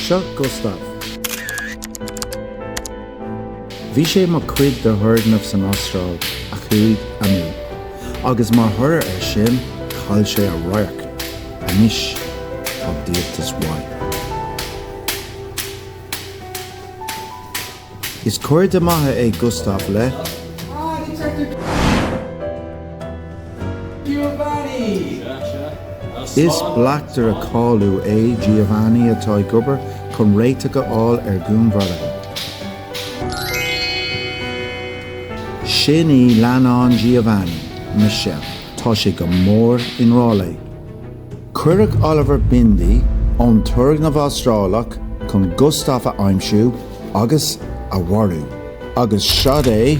Seo Gustav. Bhí sé mar chuid de thurgnamh san Astráil a chuaigh amú, agus mar thoradh ar sin, chaill sé a radharc. Anois, tá díoltas uaidh. Is cairde maithe é Gustav le. Is bleachtaire cáiliúil é Giovanni atá ag obair chun réiteach a fháil ar dhúnmharuithe. Sin í leannán Giovanni, Michelle. Tá sé go mór i ngrá léi. Cuireadh Oliver Bindi ón turgnamh Astrálach chun Gustav a aimsiú agus a mharú, agus siod é!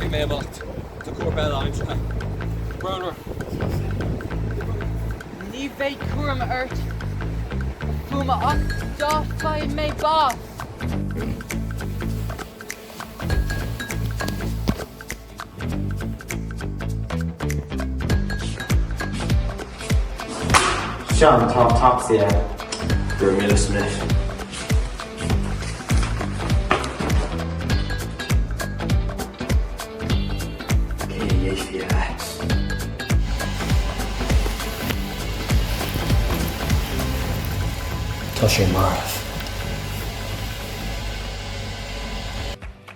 Caithfidh mé imeacht. Tá corp eile aimsithe. Bronnadh. Ní bheidh cúram ort cuma ach dá chaith mé bás. Sean, tá an tacsaí ann. Go raibh míle is míle. Tá sé marbh.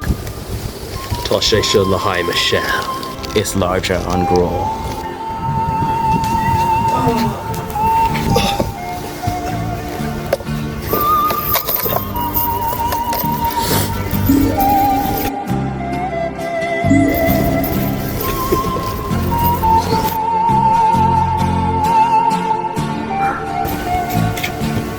Tá sé seo le haghaidh Michelle. Is láidre an grá.